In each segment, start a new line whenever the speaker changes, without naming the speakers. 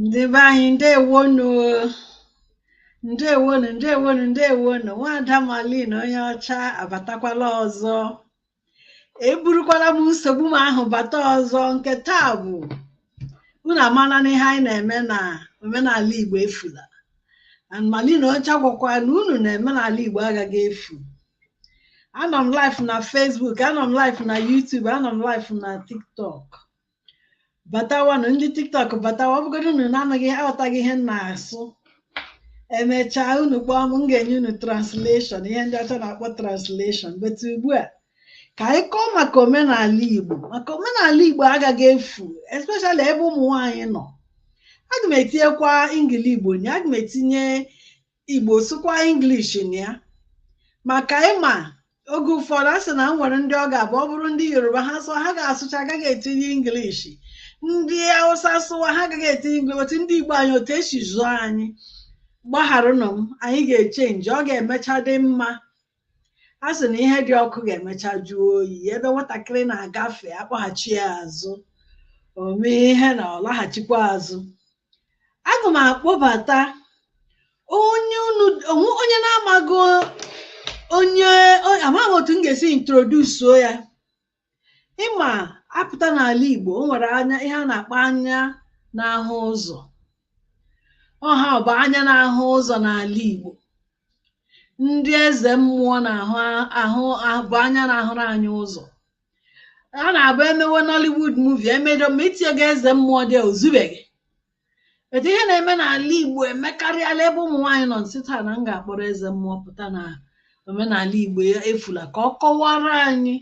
ndị be anyị ndewonu ndewonu ndewonu ndewonu nwada malin onye ọcha abatakwala ọzọ eburukwala m nsogbu m ahụ bata ọzọ nke taa bụ unu amala na ihe anyị na-eme na omenala Igbo efula and Malin Ọcha gwakwa na unu na omenala Igbo agaghị efu anọ m live na Facebook anọ m live na YouTube anọ m live na TikTok batawanụ ndị TikTok batawa ọ bụgodị unu na-anaghị aghọtaghị ihe m na-asụ emechaa unu kpọọ m m ga-enye unu translation ihe ndị ọcha na-akpọ translation but ugbu a ka anyị kọọ maka omenala Igbo maka omenala Igbo agaghị efu especially ebe ụmụ nwaanyị nọ aga m etinyekwa Ingili Igbo na aga m etinye Igbo sụkwa English na ya maka ị ma oge ụfọdụ a sị na o nwere ndị ọ ga-abụ ọ bụrụ ndị Yoruba ha sụọ ha ga-asụcha agaghị etinye English ndị Hausa sụwa ha agaghị etinye English but ndị Igbo anyị otu e si zụọ anyị gbagharanụ m anyị ga-echenji ọ ga-emecha dị mma a sị na ihe dị ọkụ ga-emecha jụọ oyi ebe nwatakịrị na-agafe a kpọghachi ya azụ o mee ihe na ọ laghachikwa azụ aga m akpọbata onye unu onwe- onye na-amaghị onye o- amaghị otu m ga-esi introdusuo ya ị ma a pụta n'ala Igbo o nwere anya ihe a na-akpọ anya na-ahụ ụzọ ọ ha bụ anya na-ahụ ụzọ n'ala Igbo ndị eze mmụọ na-abụ anya na-ahụrụ anyị ụzọ ọ na-abụ e mewe Nollywood movie e medo ma i tinyeghị eze mmụọ there o zubeghị but ihe na-eme n'ala Igbo emekarịala ebe ụmụ nwaanyị nọ m sị taa na m ga-akpọrọ eze mmụọ pụta na omenala Igbo efula ka ọ kọwara anyị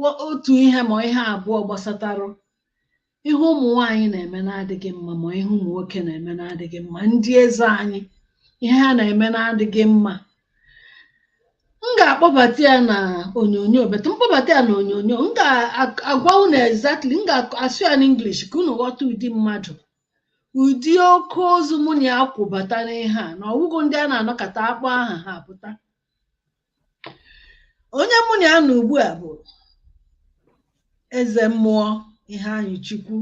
wa- otu ihe ma ihe abụọ gbasatarụ ihe ụmụ nwaanyị na-eme na-adịghị mma ma ihe ụmụ nwoke na-eme na-adịghị mma ndị eze anyị ihe ha na-eme na-adịghị mma m ga-akpọbata ya na onyonyo but m kpọbata ya na onyonyo m ga-agwa unu exactly m ga-asụ ya n'English ka unu ghọta ụdị mmadụ ụdị oke ozu mụ na ya kwụbata n'ihe a na ọ wụghị ndị a na-anọkata akpọ aha ha apụta onye mụ na ya nọ ugbu a bụ eze mmụọ Iheanyịchukwu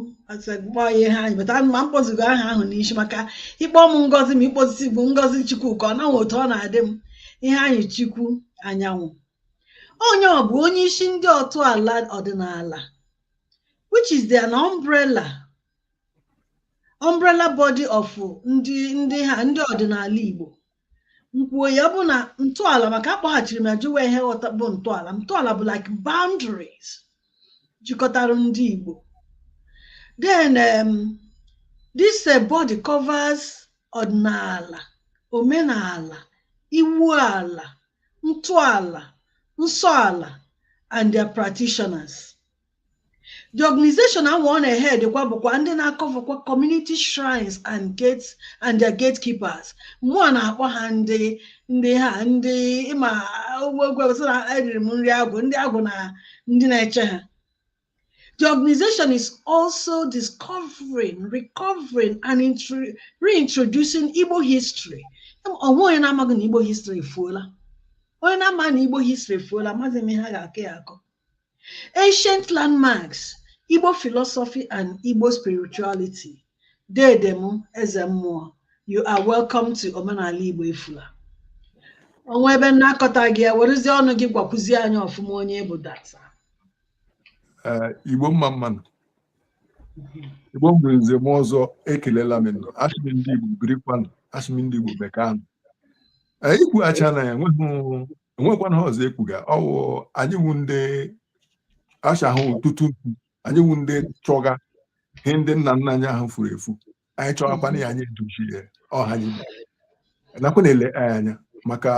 kpọọ ya Iheanyị but ma m kpọzighị aha ahụ n'isi maka ị kpọ m Ngozi ma ị kpọzighị Ngozichukwuka ọ na-enwe otu ọ na-adị m Iheanyịchukwu Anyanwụ onye ọ bụ onye isi ndị otu ala ọdịnala which is their umbrella umbrella body of ndị ndị ha ndị ọdịnala Igbo nkwuo ya bụ na ntọala maka akpọghachiri m ya jụwa ihe ghọta bụ ntọala ntọala bụ like boundaries jikọtara ndị Igbo then um, this uh, body covers ọdịnala omenala iwu ala ntọala nsọ ala and their practitioners The organization ahụ ọ na-ehead bụkwa ndị na-akọvakwa community shrines and gates and their gatekeepers mụwa na-akpọ ha ndị ndị ha ndị ịma ogwegwesị na eriri m nri agwụ ndị agwụ na ndị na-eche ha The organization is also discovering, recovering, and reintroducing Igbo history. O nwee onye na-amaghị na Igbo history efuola. Onye na-amaghị na Igbo history efuola, amaghị m ihe ha ga-akọ ya akọ. Ancient Landmarks, Igbo Philosophy and Igbo Spirituality, Dede m Eze Mmụọ, you are welcome to Omenala Igbo Efula. O nwee ebe m na-akọtaghị ya, werezie ọnụ gị gwakwuzie anyị ọfụma onye bụ data. Eh,
Igbo mma mma nụ. Igbo mgbe nze na ọzọ ekelela m nụ. Asị m ndị Igbo birikwanụ, asị m ndị Igbo mekanụ. I kwuchaana ya enweghị o nwekwanụ ihe ọzọ ekwuga ọwụ anyị wu ndị achahụ tutu anyị wu ndị chọga ihe ndị nna nna anyị ahụ furu efu anyị chọghakwana ya anyị edochi ya ọha anyị nakwa na-ele anyị anya maka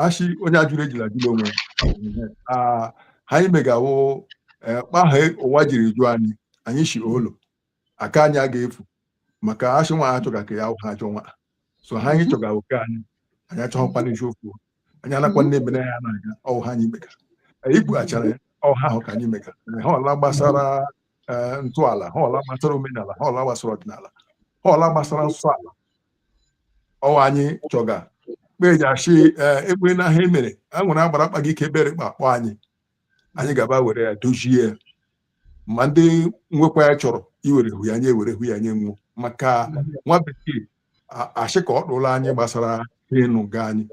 ashị onye ajụrụ ejila ajụla onwe ihe anyị mega wụ kpaha ụwa jiri jụọ anyị anyị shị olo aka anyị a ga-efu maka ashị nwa chọga ke ya awụha ajọ nwa so ha anyị chọga oke anyị anyị achọghịkwa n'isi ofu anyị anakwa nne ebe ya na-aga ọwụ ihe anyị mega anyị kpughachara ya ọwụ ihe ahụ ka anyị mega ihe ọla gbasara ntọala ihe ọla gbasara omenala ihe ọla gbasara ọdịnala ihe ọla gbasara nsọ ala ọwụ anyị chọga kpa e ji ashị ekpere na ihe emere a nwere agbara kpaga ike ebere kpa akpọ anyị anyị gaba were ya dozie ya ma ndị nwekwa ya chọrọ iwere hụ ya nye ewere hụ ya nye wo maka nwa bekee a- ashị ka ọ dụla anyị gbasara ịnụ nga anyị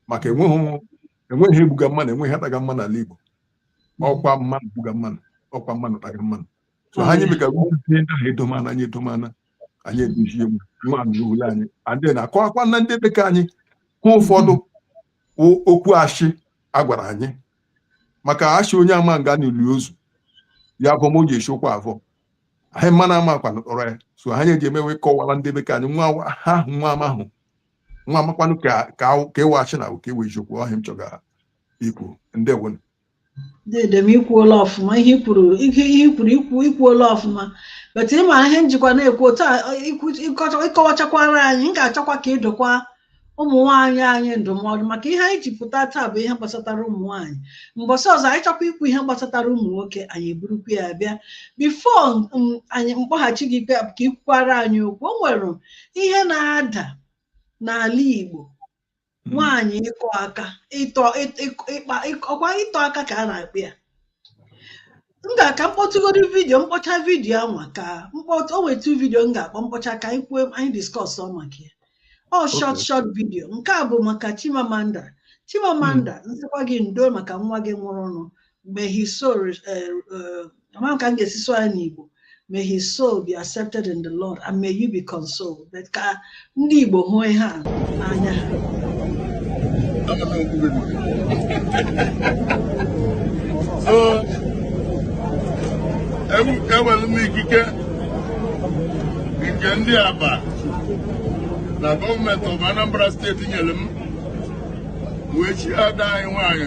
maka enweghị enweghị egbuga mmanụ enweghị ataga mmanụ n'ala Igbo ọkwa mmanụ gbuga mmanụ ọkwa mmanụ taga mmanụ so anyị meka ndị ahụ edomana anyị edomana anyị edozie nwa n'ule anyị adị na akọwakwa na ndị bekee anyị hụ ụfọdụ okwu ashị a gwara anyị maka ashị onye ama nga n'ili ozu ya bụ m o ji esi ụkwụ avọ anyị mma na ama kwanụ kpọrọ ya so anyị eji emewe kọwara ndị bekee anyị nwa ha ahụ nwa ama ahụ nwa amakwanụ ke ke wụ ashị na ke wụ eziokwu ọ ihe m chọga ikwu ndewonụ dede
m i kwuola ọfụma ihe ikwuru ihe ihe ikwuru ikwu ikwuola ọfụma but ị ma ihe m jikwa na-ekwu otu a ikwu- ịkọcha- ịkọwachakwara anyị m ga-achọkwa ka ị dụkwa ụmụ nwaanyị anyị ndụmọdụ maka ihe anyị ji pụta taa bụ ihe gbasatara ụmụ nwaanyị mbọsị ọzọ anyị chọkwa ikwu ihe gbasatara ụmụ nwoke anyị eburukwa ya bịa bifo m- anyị m kpọghachi gị bịa ka i kwukwara anyị okwu o nwere ihe na-ada n'ala Igbo Hmm. nwaanyị ịkọ aka ịtọ ịkpa ọkwa ịtọ aka ka a na-akpọ ya ngwa ka m kpọtụgodu vidiyo m kpọchaa vidiyo a nwa ka m kpọtụ o nwetu vidiyo m ga-akpọ m kpọchaa ka anyị kwuo anyị diskọsọ maka ya ọ shọt shọt vidiyo nke a bụ maka Chimamanda Chimamanda hmm. m sịkwa gị ndo maka nwa gị nwụrụnụ may his soul eh, eh, amaghị m ka m ga-esi sụọ ya n'Igbo may his soul be accepted in the Lord and may you be consoled But ka ndị Igbo hụ ihe a n'anya ha
so enwere m ikike nke ndị Abba na gọọmenti of Anambra steeti nyere m wee chi ada anyị nwaanyị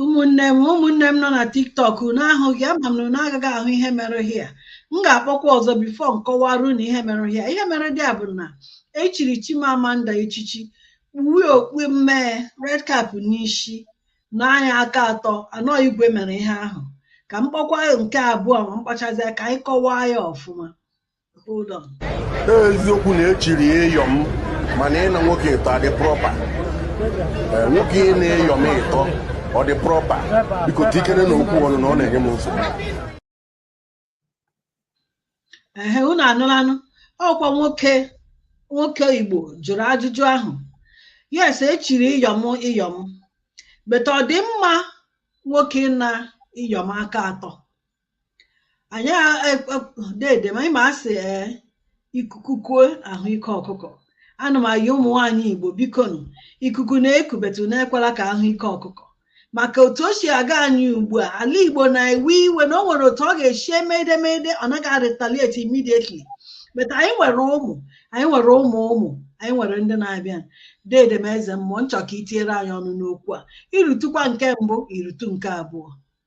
ụmụnne m ụmụnne m nọ na tiktok unu ahụghị ama m na unu agaghị ahụ ihe mere hia m ga-akpọkwa ọzọ bifo m kọwara unu ihe mere hia ihe mere dịa bụ na e chiri Chimamanda echichi kpuwe okpu mmee red cap n'isi naa ya aka atọ anọ igwe mere ihe ahụ ka m kpọkwa nke abụọ ma m kpọchazie ka anyị kọwaa ya ọfụma
eziokwu na e chiri Iyom mana ịna nwoke ịtọ ọ dị propa eh, nwoke ịna Iyom ịtọ ọ dị propa biko tikere na okwu ọnụ na ọ na-enye m nsogbu
ehe unu anụlanụ ọkwa nwoke nwoke igbo jụrụ ajụjụ ahụ yes e chiri Iyom Iyom but ọ dị mma nwoke ịna Iyom aka atọ anyị dede m anyị ma a sị ee ikuku kuo a hụ ike ọkụkọ ana m ayọ ụmụ nwaanyị igbo bikonu ikuku na-eku but unu ekwela ka a hụ ike ọkụkọ maka otu o si aga anyị ugbu a ala igbo na-ewe iwe na o nwere otu ọ ga-esi emede emede ọ naghị arịtalieti immediately but anyị nwere ụmụ anyị nwere ụmụ ụmụ anyị nwere ndị na-abịa dede m eze mmụọ m chọ ka i tinyere anyị ọnụ n'okwu a i rụtụkwa nke mbụ i rụtụ nke abụọ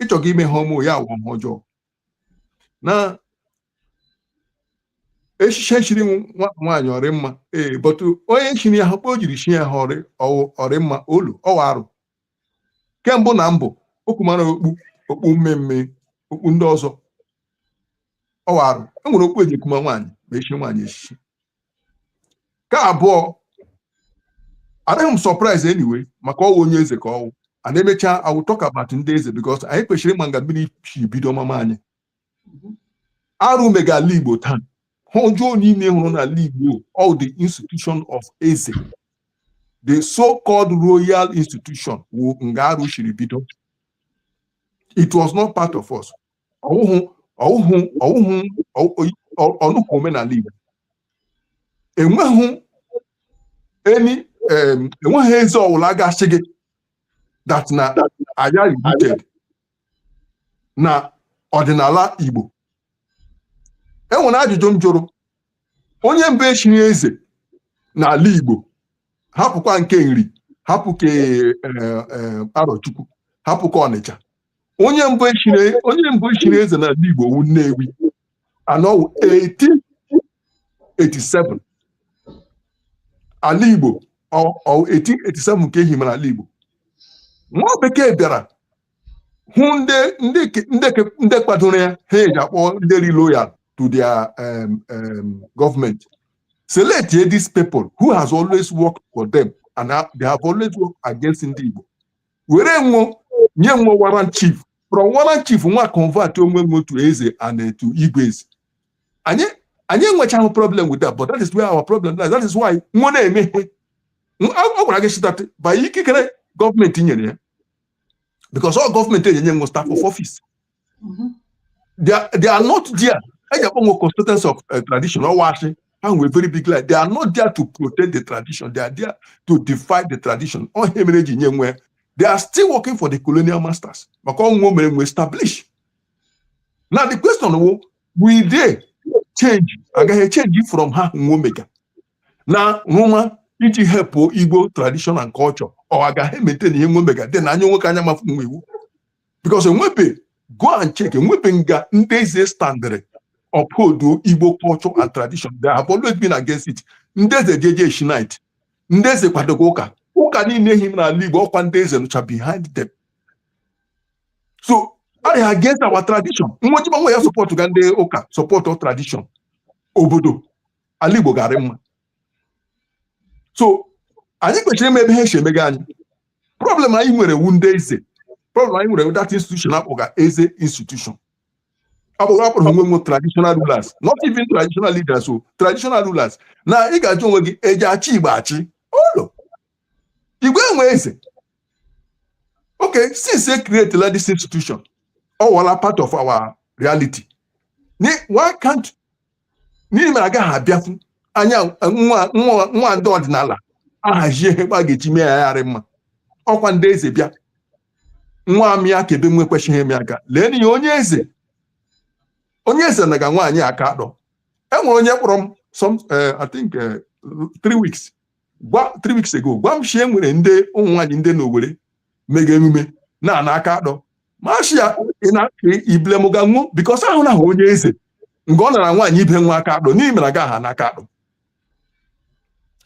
ị chọga ime ihe ọma ya awụọ ihe ọjọọ na echichi e chiri nwaanyị ọ rị mma ee bọtụ onye chiri ya ahụ okpu o jiri chi ya ahụ ọ rị ọ rị mma olo ọ wụ arụ nke mbụ na mbụ o kumara okpu okpu mmee mmee okpu ndị ọzọ ọ wụ arụ e nwere okpu e ji ekuma nwaanyị ma e chie nwaanyị echichi ka abụọ adịghị m surprise anyway maka ọwụ onye eze ka ọwụ and emechaa I will talk about ndị eze because anyị kwesịrị ịma nga mmiri si bido mama anyị arụ mega ala Igbo taa ihe ọjọọ niile ị hụrụ n'ala Igbo ọ the institution of eze the so-called royal institution wụ nga arụ siri bido it was not part of us ọwụhụ ọwụhụ ọwụhụ ọnụhụ omenala Igbo enweghị any enweghị eze ọwụla ga-asị gị that na aya rooted na ọdịnala Igbo enwere ajụjụ m jụrụ onye mbụ echiri eze n'ala Igbo hapụkwa nke nri hapụ ke e, e, arọchukwu hapụ ke ọnịcha onye mbụ echiri onye mbụ echiri eze n'ala Igbo wu Nnewi and ọwụ 1887 ala Igbo 1887 ka ehimara ala Igbo nwa bekee bịara hụ ndị ndị ndị ndị kwadoro ya ihe eji akpọ ndị rị loyal to their um, um, government select these people who has always worked for them and they have always worked against ndị Igbo were nwo nye nwo warrant chief from warrant chief nwo convert onwe nwo to eze and to igwe eze anyị anyị enwechaghị problem with that but that is where our problem lies that is why nwo na-eme ihe ọ gwara gị sị that by ikikere gọọmenti nyere ya because ọ gọọmenti enyenye nwo staff of office mm-hmm. they are not there eji akpọ nwo custodians of uh, tradition ọwụ asị and ọwụ very big lie they are not there to protect the tradition they are there to defy the tradition ọ ihe mere eji nye nwo they are still working for the colonial masters maka ọ nwo mere nwo establish now the question wụ will they change agaghị change from ihe nwo mega na rụma iji help igbo tradition and culture or agaghị maintain ihe nwo mega then anya nwoke anya mafu nwo iwu because enwebe go and check enwebe nga ndị eze standịrị uphold igbo culture and tradition they have always been against it ndị eze jeje shinit ndị eze kwadoga ụka ụka niile ehimara ala igbo ọkwa ndị eze nọcha behind them so a rị against our tradition nwo sị gbanwe ya supportụga ndị ụka supportụ our tradition obodo ala igbo ga-arị mma so anyị kwesịrị ịma ebe ha esi emega anyị problem anyị nwere wu ndị eze problem anyị nwere that institution akpọga eze institution akpọga akpọrọ onwe nwo traditional rulers not even traditional leaders o traditional rulers now ị ga-ajụ onwe gị eji achị Igbo achị ụlọ Igbo enwe eze okay since they createla this institution ọ wụọla part of our reality why can't n'ihi na agaghị abịafu anyị nwa nwa nwa ndị ọdịnala ahazie ihe a ga-eji mee ya ya arị mma ọkwa ndị eze bịa nwa m ya ka ebe nwe kwesịghị eme aka lee n'ihe onye eze onye eze naga nwaanyị aka atọ enwere onye kpọrọ m some eh, I think eh, three weeks three weeks ago gwa m shi e nwere ndị ụmụ nwaanyị ndị na Owerri mega emume na-ana aka atọ m ashị ya ị na iblemụga nwụ because ahụna onye eze nke ọ nara nwaanyị ibe nwa aka atọ n'ihi mere gaghị ana aka atọ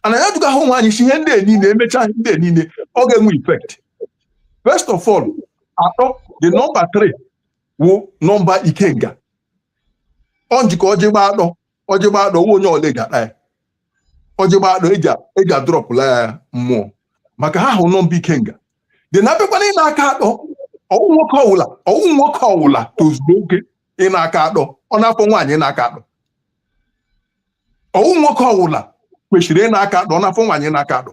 ana ya dụga ahụ nwaanyị si ihe ndị niile emechaa ndị niile ọ ga-enwe effect first of all atọ the number three wụ number ikenga ọ njikọ ọjị gba atọ ọjị gba atọ nwa onye ọla eji ata ya ọjị gba atọ eji a- eji adrọpụla ya mmụọ maka ha hụ number ikenga then abịakwa na ịna aka atọ ọwụ nwoke ọwụla ọwụ nwoke ọwụla tozuru oke ịna aka atọ ọ na-afọ nwaanyị ịna aka atọ ọwụ nwoke ọwụla kwesịrị ịna aka atọ ọ na-afọ nwaanyị ịna aka atọ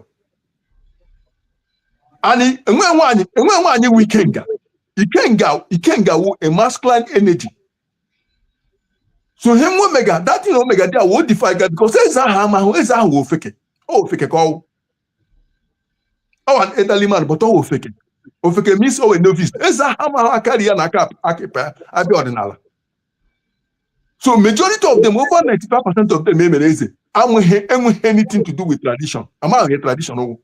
anyị enwe nwaanyị enwe nwaanyị nwe ikenga ikenga ikenga wu a masculine energy so ihe nwa omega that thing omega there o modifyga because eze ahụ amahụ eze ahụ wụ ofeke ọ wụ ofeke ka ọwụ ọwụ an elderly man but ọwụ ofeke ofeke means ọwụ a novice eze ahụ amahụ aka nri ya na aka ịkpa ya abịa ọdịnala so majority of them over 95 percent of them emere eze enweghị anything to do with tradition amaghị tradition nwụ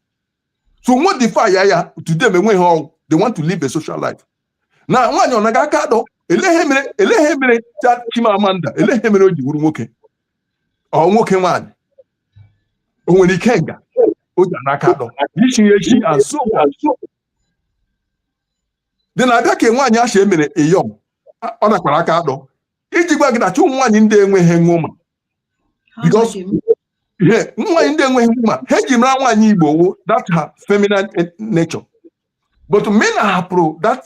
so modify ya ya to them enweghị ihe ọwụ they want to live a social life na nwaanyị ọ naga aka atọ elehe mere elehe mere Chimamanda elehe mere o ji wuru nwoke ọ nwoke nwaanyị o nwere ikenga o ji ana aka atọ ichi ya echi and so on then abịa ka nwaanyị ahụ emere iyom ọ nakwara aka atọ iji gwa gị na shi ụmụ nwaanyị ndị enweghị nwoma because ihe nwaanyị ndị enweghị mma ihe eji mara nwaanyị igbo wụ that her feminine eh, nature but mgbe ị hapụrụ that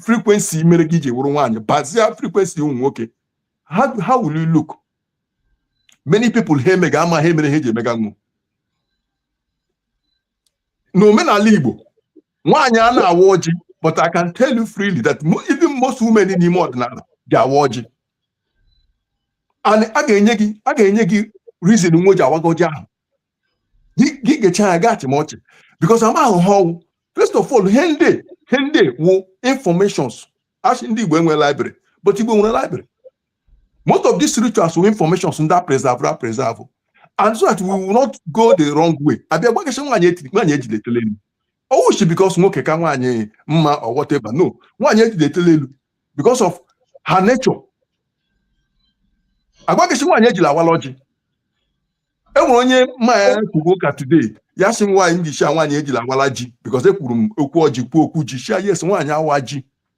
frequency mere gị ji wụrụ nwaanyị bazia frequency ụmụ nwoke how will you look many people ihe ha emega amaha ihe mere ha eji emega nwụ n'omenala igbo nwaanyị ana awa ọjị but I can tell you freely that even most women n'ime ọdịnala ga-awa ọjị and a ga-enye gị a ga-enye gị reason nwa ji awaga ọjị ahụ gị gecha ya gaa achịma ọchị because amahụ ihe ọwụ first of all ihe ndị ihe ndị wụ informations asị ndị Igbo enwe library but Igbo nwere library most of these rituals wụ informations ndị preserve preserve and so that we will not go the wrong way abịa gwa gị sị nwaanyị etiri nwaanyị ejiletele m ọ wụshị because nwoke ka nwaanyị mma or whatever no nwaanyị ejide etele elu because of her nature agwa gị sị nwaanyị ejila awala ọjị enwere onye m na ya kwugo ụka today ya sị nwaanyị m ji shia nwaanyị ejila awala ji because ekwuru m okwu ọjị kwuo okwu ji shia yes nwaanyị awa ji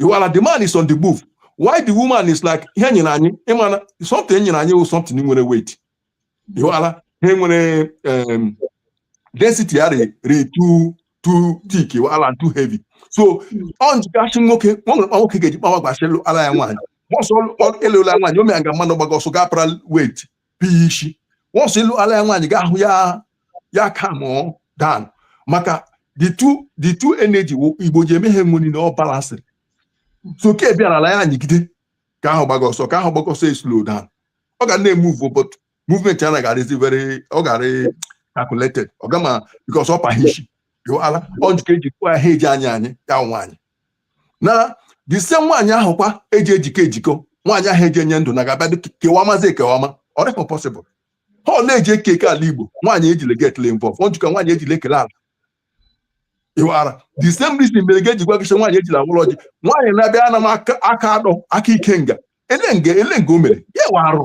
ịwala the man is on the move while the woman is like ihe nyere anyị ịmana something nyere anyị wụ something nwere weight ịwala ihe nwere um, density ya dị dị too too thick ịwala too heavy so ọ njikasị nwoke ọ nwere nwoke ga-eji kpawa agwa a sị lụara ya nwaanyị once a lụọla nwaanyị o mere nga mmanụ gbaga ọsọ gaa para weight bụ ya isi once ị lụala ya nwaanyị ga-ahụ ya ya calm down maka the two the two energy wụ Igbo ji eme ihe enwe niile ọ balansịrị so ke bịara ala ya anyịgide ke ahụ gbaga ọsọ ke ahụ gbaga ọsọ eslow down ọ ga na-emove but movement ya na ga-adịzi very ọ ga-adị calculated ọ ga-ama because ọ pa ihe isi ịwala ọ njikọ eji kwuo ihe eji anyị anyị ya nwaanyị na the same nwaanyị ahụ kwa eji ejikọ ejikọ nwaanyị ahụ eji enye ndụ na ga-abịa dị kewamazi ekewama ọ dịghị possible ihe ọ wụla eji eke eke ala Igbo nwaanyị ejile get involved njikọ nwaanyị ejile ekele ala ịwara the same reason mere ga-eji gwa gị sị nwaanyị ejila awala ọjị nwaanyị na-abịa ana m aka aka atọ aka ikenga ele nga ele nga o mere ya wụ arụ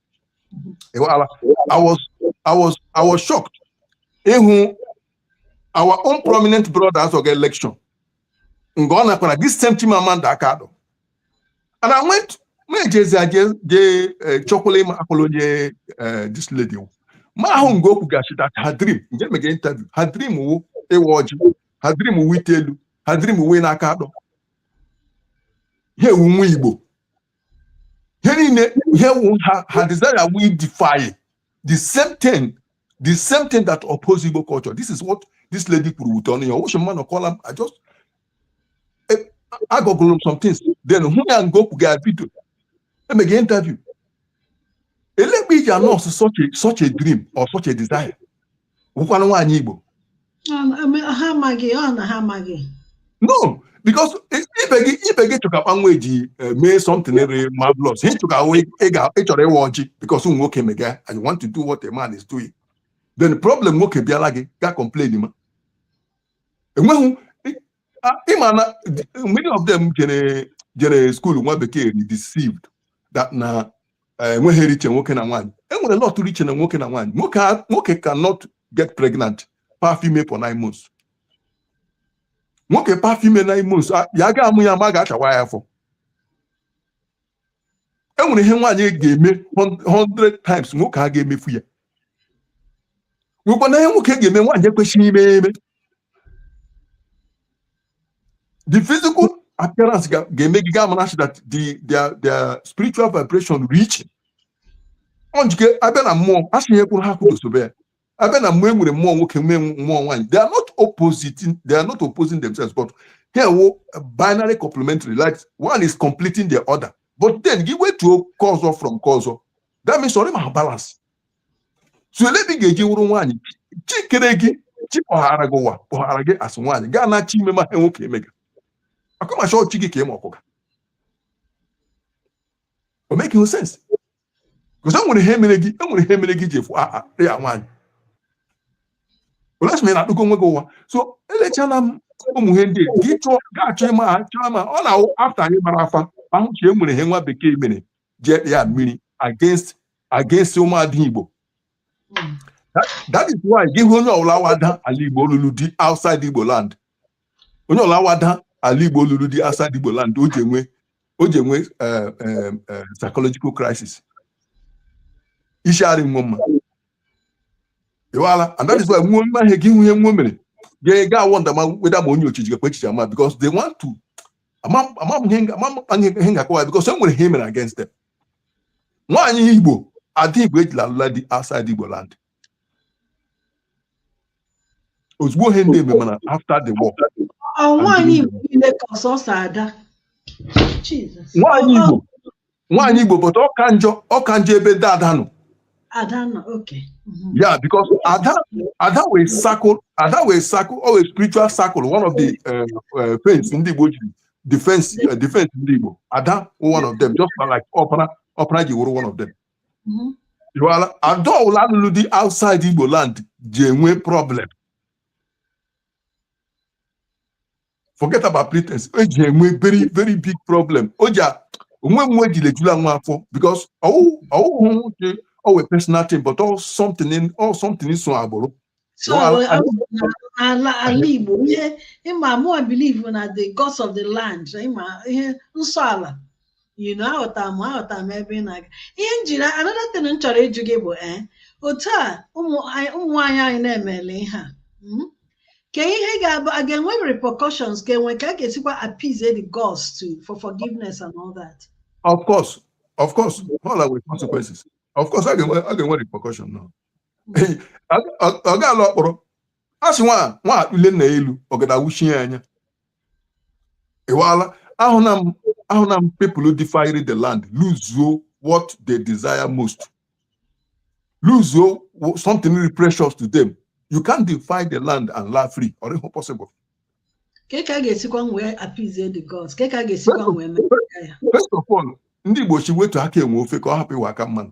I was I was I was shocked ịhụ our own prominent brothers oge election mgbe ọ nakwara this same Chimamanda aka atọ and I went na-ejezi aje jee eh, chọkwala ịma akwụla onye eh, this lady wụ. mụ ahụ nga o kwuga sị that her dream nga e mega interview her dream wụ ịwa ọjị her dream wụ ite elu her dream wụ ịna aka atọ ha ewu nwa Igbo ihe niile ihe wụ her her desire wụ ị defy the same thing the same thing that oppose Igbo culture this is what this lady kwuru with ọnụ ya ọ wụshị mmanụ kọla m I just eh, agooglerụ m some things then hụ ya nga o kwuga video e mega interview elegbe iji anurse such a such a dream or such a desire wụkwanụ nwaanyị Igbo ha amaghị ọ na ha amaghị no because ibe gị ibe gị chọga kpa nwa eji eh, mee something re marvelous ị chọga ị chọrọ ịwa ọjị because ụmụ nwoke mega I want to do what a man is doing then problem nwoke bịara gị ga complain ma enweghị ịma na many of them jere jere skuul nwa bekee dị deceived that na enweghị ihe rị iche nwoke na nwaanyị enwere lot rị iche na nwoke na nwaanyị nwoke nwoke cannot get pregnant pa afọ ime for nine months nwoke pa afọ ime nine months ya ga-amụ ya ma a ga-achawa ya afọ e nwere ihe nwaanyị ga-eme 100 times nwoke a ga-emefu ya nwekwana ihe nwoke ga-eme nwaanyị ekwesịghị ime eme the physical appearance ga-eme gị ga-amara that the their their spiritual vibration rị iche ọ njike abịa na mmụọ a sị ihe kwụrụ ihe akwụdobe ya abịa na mmụọ e nwere mmụọ nwoke nwee mmụọ nwaanyị they are not opposing they are not opposing themselves but ha enwe binary complementary like one is completing the other but then gị wetuo nke ọzọ from nke ọzọ that means ọ rịma balance so ele ebe ị ga-eji wụrụ nwaanyị chi kere gị chi kpọghara gị ụwa kpọghara gị asị nwaanyị gaa na chi ime ma ha nwoke eme gị akọmacha ọchị gị ka ịma ọkụga o make no sense because enwere ihe mere gị enwere ihe mere gị ji efu ah, ah, ya nwaanyị olasị na akpụkọ onwe gị ụwa so elechala m ụmụ ihe ndị gị chọọ ga-achọ ịma ha chọọ ma ọ na-awụ afta anyị mara afa ahụ chi enwere ihe nwa bekee mere ji ekpe ya mmiri against against ụmụada igbo hmm. that is why gị hụ onye ọbụla wụ ada ala igbo ọ lụrụ di outside igbo land onye ọwụla wụ ada ala igbo lụrụ di outside igbo land o ji enwe o ji enwe eh, eh, eh, psychological crisis isi arị wo mma ịwala and that is why wo mee ihe gị hụ ihe wo mere gị aga a-wonder ma wonder ma onye ochichi gakwa echiche ama because they want to ihe m ga-akọwa because e nwere ihe mere against them nwaanyị igbo ada igbo ejila alụla di outside igbo land ozugbo ihe ndị eme mana after the war Ọ nwaanyị Igbo
niile ka ọ sọsọ ada. Jesus. nwaanyị Ọ- igbo
nwaanyị igbo but ọ ka njọ ọ ka njọ ebe ndị ada nọ Ada nọ,
okay. Mhm. yeah
because ada ada wụ a circle ada wụ a circle ọ wụ a spiritual circle one of the uh, uh, fence ndị igbo jiri defense uh, defense ndị igbo ada one of them just like ọpara ọpara ji wụrụ one of them mm-hmm. ịghọtala ada ọwụla lụrụ di outside Igbo land ji enwe problem forget about pretense o ji enwe very very big problem o ji onwe nwe ji lejula nwa afọ because ọ wụhụ ọ wụhụ ọ wụ a personal thing but ọ wụ something ọ wụ something so agbụrụ
so Well, I- I- abụ na- n'ala ala Igbo ihe ịma mụ I believe na the gods of the land ịma ihe nsọ ala you know aghọta m aghọta m ebe ị na-aga ihe m jiri another thing m chọrọ ịjụ gị bụ eh otu a ụmụ anyị- ụmụ nwaanyị anyị na-emele ihe a mm? kee ihe ga-abụ a ga-enwe repercussions kee ka a ga-esikwa appease the gods to for forgiveness and all that
Of course, of course, all our consequences. Of course, a ga-enwe, a ga-enwe repercussion now. ọ ga-ala ọkpọrọ a sị na nwa akpụle nna elu ọgada awuchie ya anya ịwala ahụ na m ahụ na m people defyrị the land luzuo what they desire most luzuo something really precious to them you can't defy the land and laa free ọ rịhụ possible
ka ka ga-esikwa nwee appease the gods ka ka
ga-esikwa nwee mee ya first of all ndị Igbo shị wetu aka enwe ofe ka ọ hapụ ịwụ aka mmanụ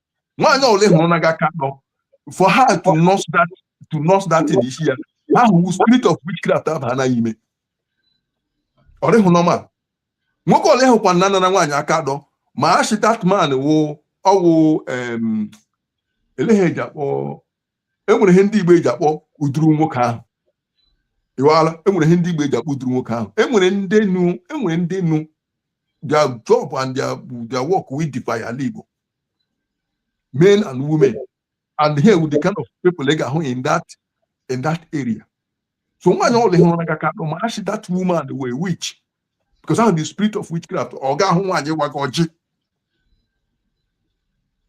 nwaanyị ọbụla ị hụrụ naga aka atọ for her to nurse that to nurse that thing n'isi ya ọ wụ spirit of witchcraft abana ime ọ rịhụ normal nwoke ọla ị hụkwana nara nwaanyị aka atọ maa shị that man wụ ọ wụ elee ihe eji akpọ enwere ihe ndị igbo eji akpọ uduru nwoke ahụ ịwala enwere ihe ndị igbo eji akpọ uduru nwoke ahụ enwere ndị nu enwere ndị nu their job and their, their work wụ ịdefy ala igbo men and women and ihe a wụ the kind of people ị ga-ahụ in that in that area so nwaanyị ọbụla ị hụrụ naga aka atọ maa shị that woman wụ a witch because ọ wụ the spirit of witchcraft ọ ga ahụ nwaanyị gwa gị ọjị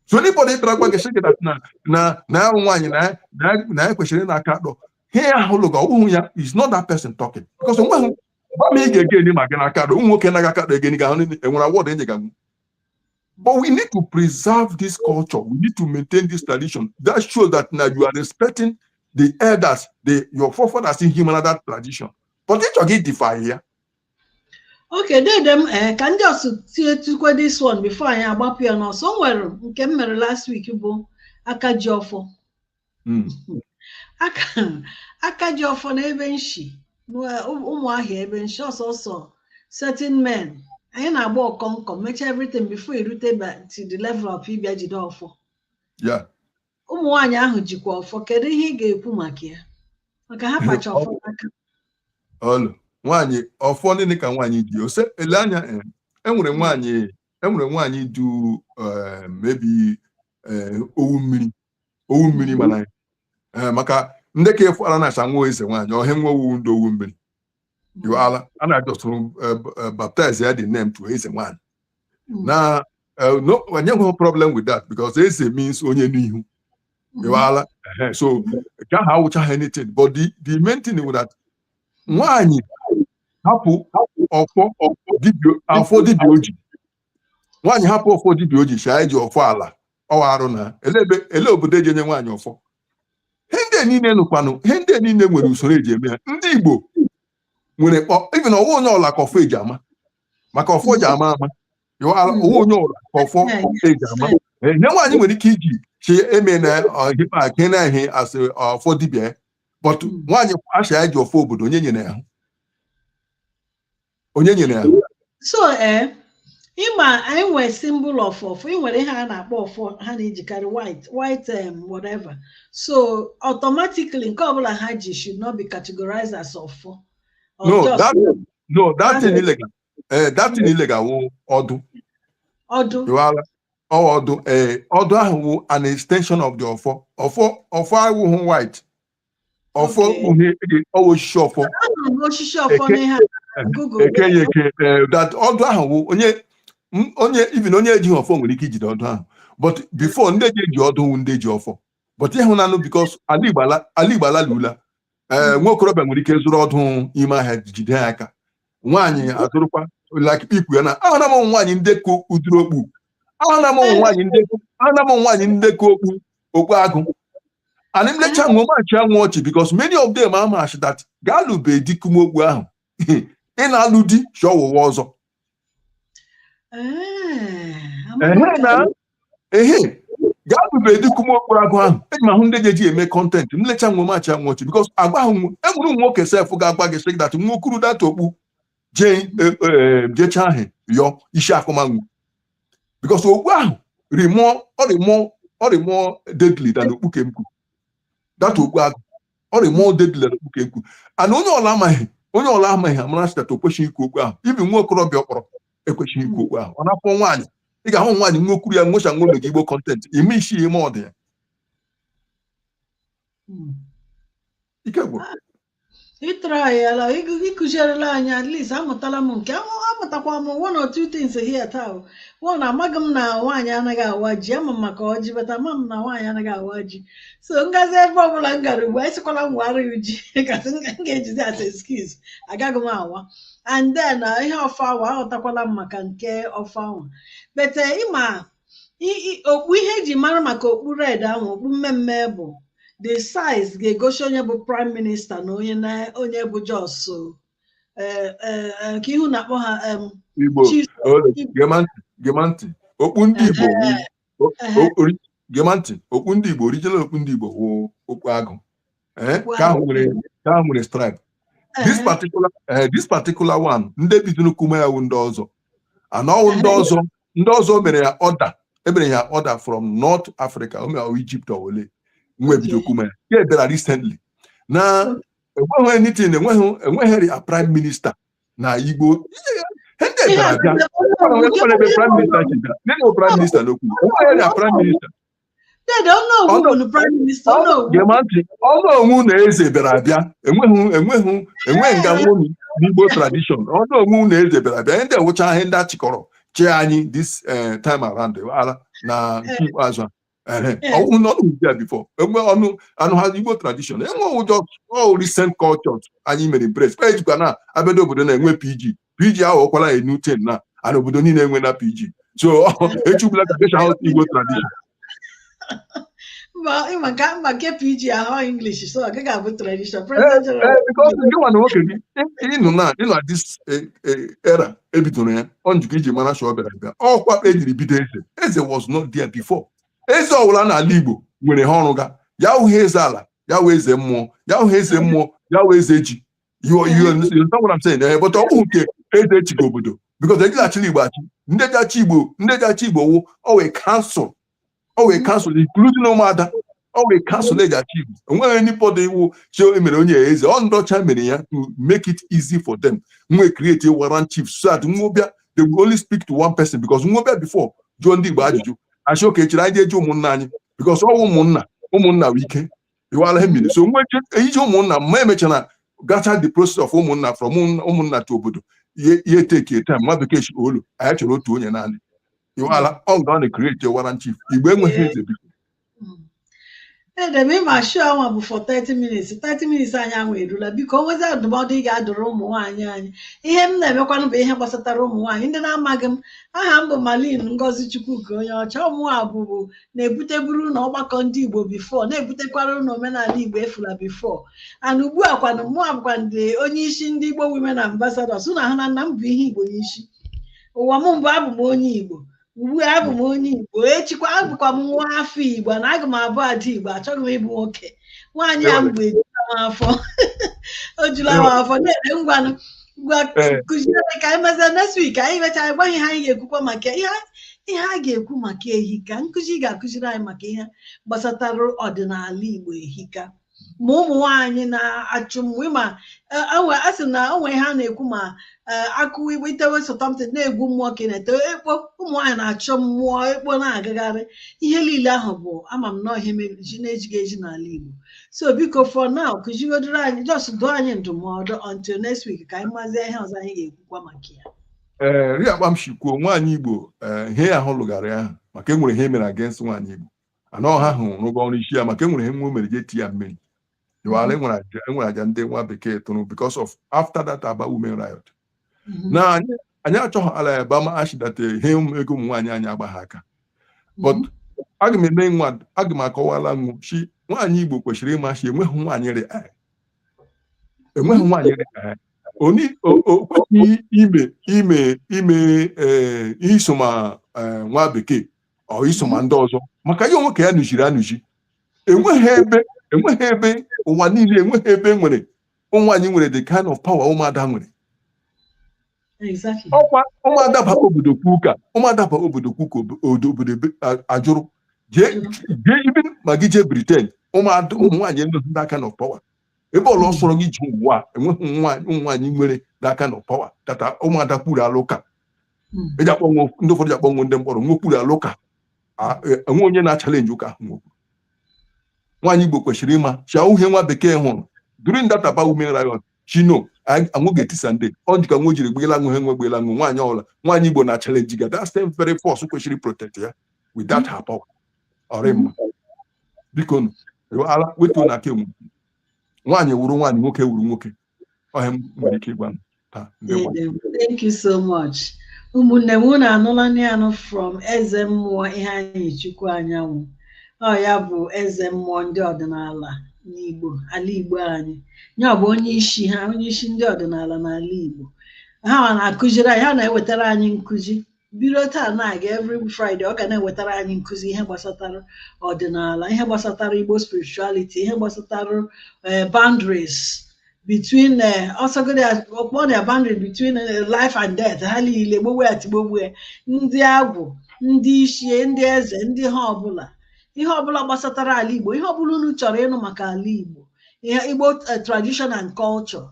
so anybody bịara gwa gị sị gị na na na ya nwaanyị na ya- na ya- na ya kwesịrị ịna aka atọ he ahụ lụga ọ wụhụ ya is not that person talking because onweghị gwa m ị ga-ege enyi ma gị naa aka atọ ụmụ nwoke naga aka atọ egeni ga ahụ enwere award enyega But we need to preserve this culture. We need to maintain this tradition. That shows that now you are respecting the elders, the, your forefathers who made that tradition. But ị chọga ịdefy
ya. Okay, dede m uh, ka ndị ọsụ tie tukwe this one before anyị agbapụ ya now so o nwere nke m mere last week bụ aka ji ọfọ hmm. aka ji ọfọ n'ebe m shi ụmụahịa ebe m shi ọ sọsọ certain men anyị na-agba ọkọnkọ mechaa everything before i rute to the level of ịbịa jide ọfọ
ụmụ
nwaanyị ahụ jikwa ọfọ kedu ihe ị ga-ekwu maka ya maka ha pacha ọfọ n'aka
olee nwaanyị ọfọ nịnị ka nwaanyị ji ose ele anya eh, enwere nwaanyị enwere nwaanyị dụ eh, maybe eh, owu mmiri owu mmiri mana ya ee maka ndị ka efu ala na-acha nwa eze nwaanyị ọhịa nwa owu ndị owu mmiri ịwala a na just rebaptize ya the name to eze nwaanyị na eh, no anyị enweghị problem with that because eze means onye n'ihu ịwala Ehe. so nke ahụ awụchahụ anything but the, the main thing bụ that nwaanyị hapụ ọfọ ọfọ dibịa ọfọ dibịa o ji nwaanyị hapụ ọfọ dibịa o ji shaa eji ọfọ ala ọwụ arụ na ele obodo eji enye nwaanyị ọfọ ihe ndị niile nụkwanụ ihe ndị niile nwere usoro eji eme ha ndị Igbo nwere even ọwụ onye ọla ka ọfọ eji ama maka ọfọ ji ama ama ọwụ onye ọla ka ọfọ eji ama ihe nwaanyị nwere ike iji chi eme na ọhịpa ke na ihe asị ọfọ dibịa but nwaanyị asị ya ji ọfọ obodo onye nyere ya onye nyere ya so
ee ịma anyị nwere symbol of ọfọ ị nwere ihe a na-akpọ ọfọ ha na-ejikarị white white um, whatever so automatically nke ọbụla ha ji should not be categorized as ọfọ Or no just that
no that thing ị lega eh that thing ị lega wụ ọdụ ọdụ Iwala. Ọ ọdụ ee ọdụ ahụ wụ an extension of the ọfọ ọfọ ọfọ awụhụ white ọfọ kpughe gị ọwụ osisi ọfọ Anụrụ m osisi
ọfọ Eke- n'ihe a Google. ekenye eke eh,
that ọdụ ahụ wụ onye m- onye even onye ejighị ọfọ nwere ike ijide ọdụ ahụ but before ndị ji eji ọdụ wụ ndị ji ọfọ but ịhụnanụ because ala Igbo ala- ala Igbo alalula ee nwa okorobịa nwere ike zụrụ ọdụ ime ahịa jide ya aka nwaanyị azụrụkwa like ikpu ya na ahụna m ụmụ nwaanyị ndị ka ụdịrị okpu ahụna m ụmụ nwaanyị ndị ahụna m ụmụ nwaanyị ndị ka okpu Okpu agụ. And m lecha nwo m achịa nwo ọchị because many of them amaa sị that gị alụbee di kuma okpu ahụ. Ị na-alụ di sọ ụwa ọzọ. Ehe na ehe gị alụbee di kuma okpu agụ ahụ. Eji m ahụ ndị ga-eji eme content m lecha nwo m achịa nwo ọchị because agwa ahụ enwere ụmụ nwoke sef ga-agwa gị sị that nwo kuru that okpu jee jecha ahụ yọ isi akụma nwo. because okpu ahụ dị more ọ dị more ọ dị more deadly than okpu kemkpu that okpu agụ ọ dị more deadly than okpu kemkpu and onye ọla ma ihe onye ọla ma ihe amara sị that o kwesịghị ikwu okpu ahụ even nwa okorobịa ọkpọrọ ekwesịghị ikwu okpu ahụ ọ na-afọ nwaanyị ị ga-ahụ nwaanyị nwo kuru ya nwo sị nwo mega igbo content ime isi ya ime ọdụ ya ike gwụrụ ị
tryala ị kụzierela anyị at least amụtala m nke ahụ- amụtakwa m one or two things here taa o. one amaghị m na nwaanyị anaghị awa ji ama m maka ọjị but ama m na nwaanyị anaghị awa ji so m gazie ebe ọbụla m gara ugbu a asịkwala m wara ya ji kasị m ga- m ga-ejizi as excuse agaghị m awa and then uh, ihe ọfọ awa aghọtakwala m maka nke ọfọ awa but ịma okpu ihe eji mara maka okpu red ahụ okpu mme mme bụ the size ga-egosi onye bụ prime minister na onye na onye bụ just eh, eh, eh, ka ihu na-akpọ ha
igbo gema ntị okpu ndị igbo gema ntị okpu ndị igbo original okpu ndị igbo wụ okpu agụ eh, ka ahụ nwere ka ahụ nwere stripe this particular eh, this particular one ndị bidoro kuma ya wụ ndị ọzọ ana ọwụ ndị ọzọ ndị ọzọ mere ya order emere ya order from north africa o mere ọwụ egypt ọ wụ ole nwe bido kuma ya ya ebịara recently na enweghị anything enweghị enweghị a prime minister na igbo ihe ndị ebịara abịa enweghị prime minister chịga nene prime minister n'okwu enweghị a prime minister onowu na eze bịara abịa enweghị enweghị enweghị nga nwomi n'igbo tradition onowu na eze bịara abịa ndị a wụcha ihe ndị achịkọrọ chee anyị this eh, time around ala na nke ikpeazụ a ọnwụ na ọnụ bịa before enwe ọnụ anụ ha igbo tradition enwe ụjọ recent culture anyị mere embrace ejikwa na abịado obodo na-enwe pg PG aghọkwala a new thing now and obodo niile enwe na PG so echugbula ka kesha ahụ Igbo tradition maka
nke PG
wụ English so ọ gaghị abụ tradition gịnwa na nwoke gị ịnụ na ịnụ na this e, e, era ebidoro ya ọ njikọ iji mara sị ọ bịara abịa ọkwa ejiri bido eze eze was not there before eze ọwụla n'ala Igbo nwere ihe ọ rụga ya wụghị eze ala ya wụ eze mmụọ ya wụghị eze mmụọ ya wụ eze ji you you understand what I'm saying eh, but ọ bụghị nke eze chịga obodo because ejighị achịla igbo achị ndị ji achị igbo ndị ji achị igbo wụ always council always council including ụmụada always council eji achị igbo enweghị anybody iwu chi emere onye ya eze ọ ndị ọcha mere ya to make it easy for them nwe create a warrant chief so that nwobịa they will only speak to one person because nwobịa before jụọ ndị igbo ajụjụ a sị okay chere anyị je jụọ ụmụnna anyị because ọ wụ ụmụnna ụmụnna wụ ike iwala ihe mere so nwe iji ụmụnna ma emechara gacha the process of ụmụnna from ụmụnna to obodo ihe take time nwa bekee sị olo anyị chọrọ otu onye naanị iwala ọ ga na create warrant chief igbo enweghị eze biko
edem ịma show anwa bụ for 30 minutes 30 minutes anyị anwa erula biko o nwezi ndụmọdụ ị ga-adụrụ ụmụ nwaanyị anyị ihe m na-emekwanụ bụ ihe gbasatara ụmụ nwaanyị ndị na-amaghị m aha m bụ Malin Ngozi Chukwuka onye ọcha ọ mụnwa bụbu na-ebuteburu unu ọgbakọ ndị Igbo before na-ebutekwara unu omenala Igbo efula before and ugbu a kwanụ mụa bụkwanụ onye isi ndị Igbo women ambassadors unu ahụna na m bu ihe Igbo n'isi ụwa m mbụ abụ m onye Igbo ugbu a abụ m onye Igbo echikwa abụkwa m nwa afọ Igbo na aga m abụ ada Igbo achọghị m ịbụ nwoke nwaanyị a m bụ ejula m afọ o jula m afọ na-ere ngwanụ ngwa Ee. kụziere ka anyị mezie next week anyị mechaa anyị gwa gị ihe anyị ga-ekwukwa maka ihe a- ihe a ga-ekwu maka ehika nkụzi ị ga-akụziri anyị maka ihe gbasatara ọdịnala igbo ehika ma ụmụ nwaanyị na achọ m ịma ma a sị na o nwe ihe na-ekwu ma ee akụwa igbo itewe sometimes na-egwu mmụọ ka ị na-ete ekpo ụmụ nwaanyị na-achọ mmụọ ekpo na-agagharị ihe niile ahụ bụ ama m na ihe mere ji na-ejighị eji n'ala igbo so biko for now kụzigodoro anyị just dụọ anyị ndụmọdụ until next week ka anyị mazie ihe ọzọ anyị ga-ekwukwa maka ya ee rị akpa
m shi kwuo nwaanyị igbo ee ihe ya ahụ lụgara ya ahụ maka enwere ihe e mere against nwaanyị igbo ana ọha ahụ rụgo ọrụ isi ya maka enwere ihe nwa o mere ji eti ya mmiri iwala enwere aja enwere aja ndị nwa bekee tụrụ because of after that aba women riot Mhm. na anyị anyị achọghị ala ya ba ma achidata ihe ụmụ- ego ụmụ nwaanyị anyị agba ha aka but aga m eme nwa aga m akọwala unu shi nwaanyị igbo kwesịrị ịma shi enweghị nwaanyị rị ahụ enweghị nwaanyị rị ahụ oni o- o kwesịghị ime ime ime ee isoma ee, nwa bekee or isoma ndị ọzọ maka ya onwe ka ya nụchiri anụchi enweghị ebe enweghị ebe ụwa niile enweghị ebe e nwere ụmụ nwaanyị nwere the kind of power ụmụada nwere ọkwa ụmụada baa obodo kwuo ụka ụmụada baa obodo kwuo ụka obodo ajụrụ jee even ma gị jee Britain ụmụada ụmụ nwaanyị enweghị that kind of power ebe ọla sọrọ gị jee ụwa enweghị nwaanyị nwere that kind of power that ụmụada kwurula ụka hmm. eji akpọ nwa ndị ụfọdụ ji akpọ nwa ndị mkpọrọ nwa kwurula ụka e, enwe onye na-achalenji ụka ahụ nwokwu nwaanyị igbo kwesịrị ịma shi ọ wụ ihe nwa bekee hụrụ during that Aba women riot shi na nwa ga-etisa ndị ọ jika nwa jiri gbela nwe he nwe gbela nwe nwaanyị ọbụla nwaanyị igbo na-achalenji ga that same very force kwesịrị protect ya with that her power ọ rị mma biko ala wetuo nụ aka enwe nwaanyị wuru nwaanyị nwoke wuru nwoke ọ ihe m nwere ike ịgwa unu taa ndewo
Thank you so much. ụmụnne m unu anụlanụ ya nụ from eze mmụọ Iheanyịchukwu Anyanwụ ọ ya bụ eze mmụọ ndị ọdịnala n'igbo ala igbo anyị ya bụ onye isi ha onye isi ndị ọdịnala n'ala igbo ha ha na-akụziri anyị ha na-ewetara anyị nkụzi bido taa na-aga every Friday ọ ga na-ewetara anyị nkụzi ihe gbasatara ọdịnala ihe gbasatara Igbo spirituality ihe gbasatara eh, boundaries between eh, ọsọgode ọkpọ na boundary between eh, life and death ha niile gbogbo ya tigbogbo ya ndị agwụ ndị ichie ndị eze ndị ihe ọbụla ihe ọbụla gbasatara ala Igbo ihe ọbụla unu chọrọ ịnụ maka ala Igbo ihe Igbo eh, tradition and culture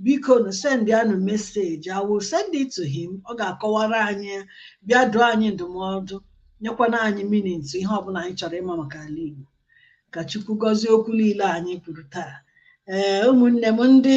bikonu sendianụ message I will send it to him ọ ga-akọwara anyị bịa dụọ anyị ndụmọdụ nyekwana anyị meaning ihe ọbụla anyị chọrọ ịma maka ala Igbo ka Chukwu gọzie okwu niile anyị kwuru taa ee eh, ụmụnne m ndị